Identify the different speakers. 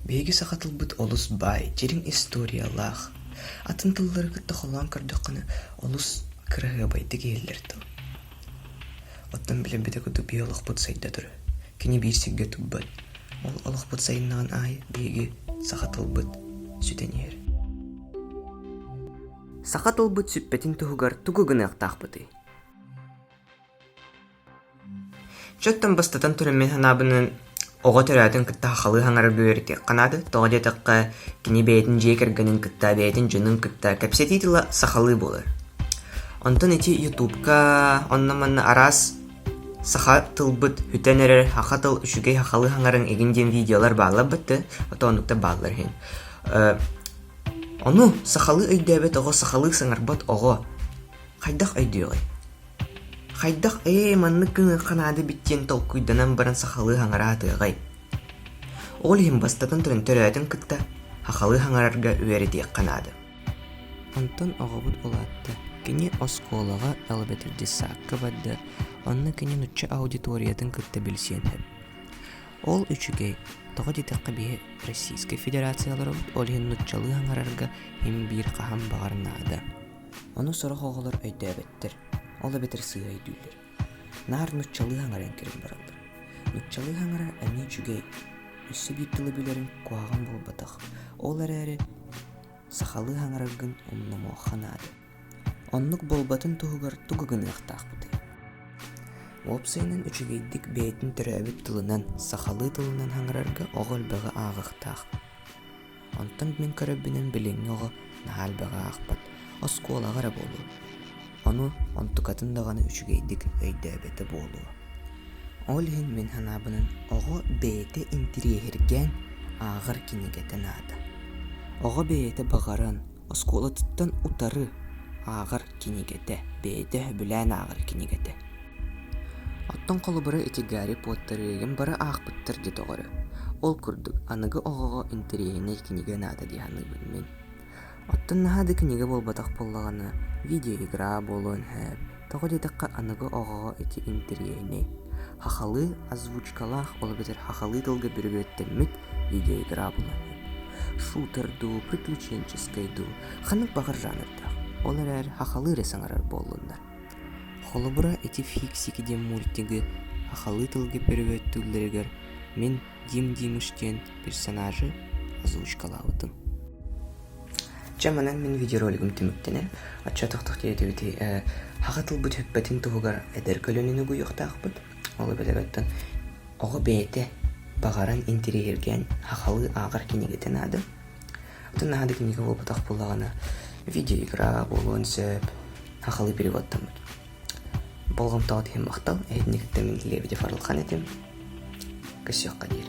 Speaker 1: Биһиги саха тылбыт олус баай, дьириҥ историялаах. Атын тыллары кытта холоон көрдөххүнэ олус кыраһыабайдык иһиллэр тыл. Оттон билэрбитэ курдук биһи олохпут сайдатары. Кини биир сиргэ турбат. Ол олохпут сайыннаҕын аайы биһиги саха тылбыт сүтэн иһэр. Саха тылбыт сүппэтин туһугар тугу гыныахтаахпытый? Чэ оттон бастатан туран мин санаабынан оҕо төрөөтүн кытта сахалыы хаҥарар бөһүөрэтик канады, тоҕо диэтэххэ кини бэйэтин дьиэ кэргэнин кытта, бэйэтин дьонун кытта кэпсэтии тыла сахалыы буолар. Онтон ити ютубка онно-манна араас саха тылбыт бүтэн эрэр, саха тыл үчүгэй сахалыы хаҥарыҥ игин диэн видеолар баалларбыт да, ото оннуктар бааллар иһин. Э, ону сахалыы өйдөөбөт оҕо, сахалыы саҥарбат оҕо хайдах өйдүөҕүй? Хайдах «Ээй, маннык гыныахха наада эбит» диэн толкуйданан баран сахалыы хаҥараа атыаҕай? Ол иһин бастатан төрөөтүн кытта сахалыы хаҥарарга үөрэтиэххэ наада. Онтон оҕобут улаатта. Кини оскуолаҕа Элбэтирдьи Саакка барда, онно кини нуучча аудиториятын кытта билсиэн сөп. Ол үчүгэй, тоҕо диэтэххэ биһи Российскай Федерацияларбыт ол иһин нууччалыы хаҥарарга им-биир хаһан баҕар наада. Ону сорох оҕолор өйдөөбөттөр, ол эбэтэр сыыһа өйдүүллэр. Наар нуччалыы хаҥаран кэлэн бараллар. Нуччалыы хаҥара эмиэ үчүгэй. Өссө биир тылы билэрим куһаҕан буолбатах. Ол эрээри сахалыы хаҥараргын умнумуохха наада. Оннук буолбатын туһугар тугу гыныахтаахпытый? Уопсайынан үчүгэйдик бэйэтин төрөөбүт тылынан, сахалыы тылынан хаҥарарга оҕо элбэҕи ааҕыахтаах. Онтон мин көрөрбүнэн билиҥҥи оҕо наһаа элбэҕи аахпат, оскуолаҕа эрэ буолуо. Ону, онтукатын даҕаны үчүгэйдик өйдөөбөтө буолуо. Ол иһин мин санаабынан оҕо бэйэтэ интириэһиргээн ааҕар кинигэтэ наада. Оҕо бэйэтэ баҕаран Оскуолатыттан утары ааҕар кинигэтэ, бэйэтэ сөбүлээн ааҕар кинигэтэ. Оттон холобура ити Гарри Поттер эйигин бары аахпыттар дии доҕоро. Ол курдук аныгы оҕоҕо интэриэһинэй кинигэ наада дии саныыбын мин. Оттон наһаа да кинигэ буолбатах буоллаҕына, видеоигра буолуон сөп, Тоҕо диэтэххэ, аныгы оҕоҕо ити интэриэһинэй. Хахалыы озвучкалаах, ол эбэтэр хахалыы тылга бүрүбүөттэммит видеоигра буолаҥҥын. Шутер дуу, приключенческай дуу, ханнык баҕар жанрдаах. Ол эрээри хахалыы эрэ саҥарар буоллуннар. Холобура, ити Фиксики диэн мультигы хахалыы тылга бүрүбүөттүүллэригэр мин Дим Димыш диэн персонажы озвучкалаабытым. Чэ манан мин видеоролигым түмүктэнэн, отчетовтук тиэрдибит ээ саха тылбыт сүппэтин туһугар эдэр көлөнүн угуйуохтаахпыт. Ол эбэтэр оттон оҕо бэйэтэ баҕаран интириэһиргээн сахалыы ааҕар кинигэтэ наада. Оттон наһаа да кинигэ буолбатах буоллаҕына видеоиграҕа буолуон сөп сахалыы переводтаммыт. Болҕомтоҕут иһин махтал. Иһитиннэриттэн мин Лебедев Арылхан этим. Көрсүөххэ диир.